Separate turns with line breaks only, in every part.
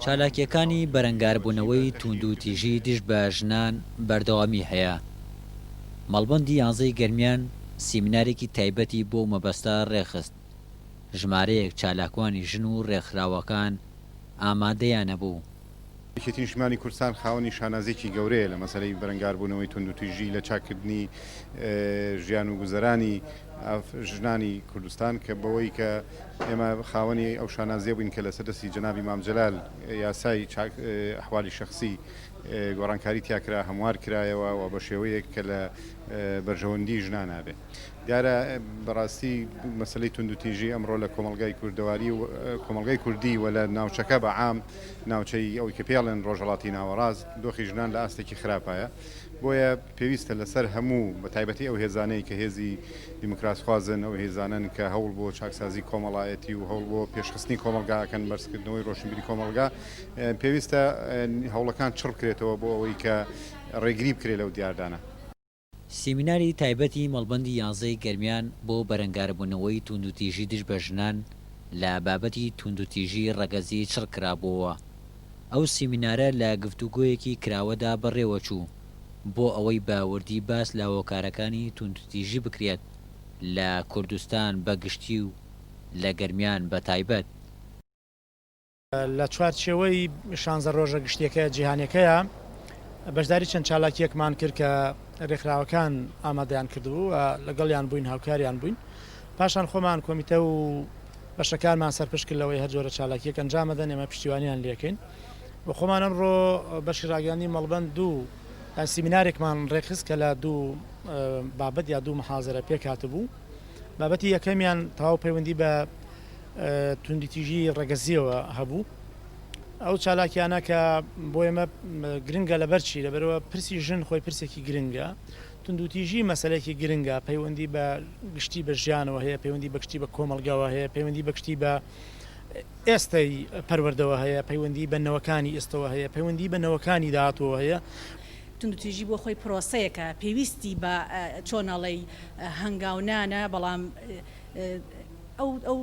چالاکییەکانی بەرەنگاربوونەوەی تووندوتیژی دژ بە ژنان بەردەوامی هەیە. مەڵبەندی یانزە ی گەرمیان سیمینارێکی تایبەتی بۆ ئەو مەبەستە ڕێکخست. ژمارەیەک چالاکوانی ژن و ڕێکخراوەکان ئامادەیانەبوو یەکێتی نیشتمانی
کوردستان خاوەنی شانازیەکی گەورەیە لە مەسەلەی بەرەنگاربوونەوەی توندوتیژی لە چاککردنی ژیان و گوزەرانی ژنانی کوردستان کە بەوەی کە ئێمە خاوەنی ئەو شانازیە بووین کە لەسەر دەستی جەنابی مام جەلال یاسای ئەحوالی شخصی گۆڕانکاری تیاکرا هەموار کرایەوە و بە شێوەیەک کە لە بەرژەوەندی ژنانە بێ دیارە بەڕاستی مەسەلەی توندوتیژی ئەمڕۆ لە کۆمەڵگای کوردەواری و کۆمەڵگای کوردی و لە ناوچەکە بە عام ناوچەی ئەوەی کە پێڵێن ڕۆژهەڵاتی ناوەڕاست دۆخی ژنان لە ئاستێکی خراپایە بۆیە پێویستە لەسەر هەموو بە تایبەتی ئەو هێزانەی کە هێزی دیموکراسخوازن ئەو هێزانن کە هەوڵ بۆ چاکسازی کۆمەڵایەتی و هەوڵ بۆ پێشخستنی کۆمەلگاکەن بەرزکردنەوەی ڕۆشنبیری کۆمەلگا پێویستە هەوڵەکان چڕ بکرێتەوە بۆ ئەوەی کە ڕێگری بکرێت لەو دیاردانە. سیمیناری
تایبەتی مەڵبەندی یانزە ی گەرمیان بۆ بەرەنگاربوونەوەی تووندوتیژی دژ بە ژنان لە بابەتی تووندوتیژی ڕەگەزی چڕ کرابۆوە. ئەو سیمینارە لە گفتوگۆیەکی کراوەدا بەڕێوە چوو بۆ ئەوەی بە وردی باس لە هۆکارەکانی تووندوتیژی بکرێت لە کوردستان بە گشتی و لە گەرمیان بە تایبەت.
لە چوارچێوەی شانزە ڕۆژە گشتیەکە جیهانەکەیە بەشداری چەند چالاکیەکمان کرد کە ڕێکخراوەکان ئامادەیان کردبوو و لەگەڵیان بووین هاوکاریان بووین پاشان خۆمان کۆمیتە و بەشەکانمان سەرپشت کرد لەوەی هەر جۆرە چالاکیەک ئەنجامەدەن ئێمە پشتیوانیان لەکەین و خۆمان ئەمڕۆ بەشی ڕاگەاندی مەڵبند دوو سیمینارێکمان ڕێکخست کە لە دوو بابەت یا دوو محازرە پێکات بوو بابەتی یەکەمیان تەواو پەیوەندی بە توندوتیژی ڕەگەزیەوە هەبوو ئەو چالاکیانە کە بۆ ئێمە گرنگە لەبەر چی لەبەرەوە پرسی ژن خۆی پرسێکی گرنگە توندوتیژی مەسلێکی گرنگە پەیوەندی بە گشتی بە ژیانەوە هەیە پەیوەندی بەگشتی بە کۆمەلگاوە هەیە پەیوەندی بەگشتی بە ئێستای پەروەردەوە هەیە پەیوەندی بە نەوەکانی ئێستەوە هەیە پەیوەندی بە نەوەکانی داهاتەوە هەیە توندوتیژی
بۆ خۆی پرۆسەیەکە پێویستی بە چۆناڵی هەنگاونانە بەڵام ئەو ئەو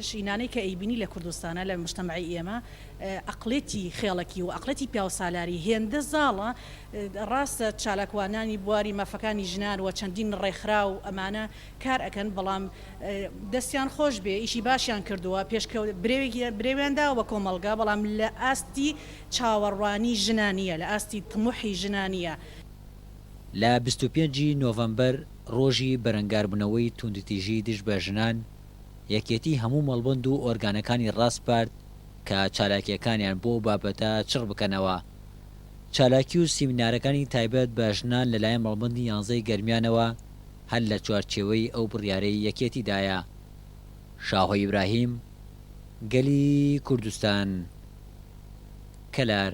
ژینانەی کە ئەیبینی لە کوردستانا لە مشتەمەعی ئێمە ئەقڵێتی خێڵەکی و ئەقڵێتی پیاوسالاری هێندە زاڵە ڕاستە چالاکوانانی بواری مافەکانی ژنان و چەندین ڕێکخرا و ئەمانە کار ئەکەن بەڵام دەستیان خۆش بێ ئیشی باشیان کردووە پێشکە برێوێکی برێویان داوە بە کۆمەڵگا بەڵام لە ئاستی چاوەڕوانی ژنانە لە ئاستی تموحی ژنانە.
لە بیست و پێنج ی نۆڤەمبەر ڕۆژی بەرەنگاربونەوەی توندوتیژی دژ بە ژنان، یەکێتی هەموو مەڵبەند و ئۆرگانەکانی ڕاسپارد کە چالاکیەکانیان بۆ ئەو بابەتە چڕ بکەنەوە. چالاکی و سیمینارەکانی تایبەت بە ژنان لەلایەن مەڵبەندی یانزە ی گەرمیانەوە هەر لە چوارچێوەی ئەو بڕیارەی یەکێتی دایە. شاهۆ ئیبراهیم، گەلی کوردستان، کەلار.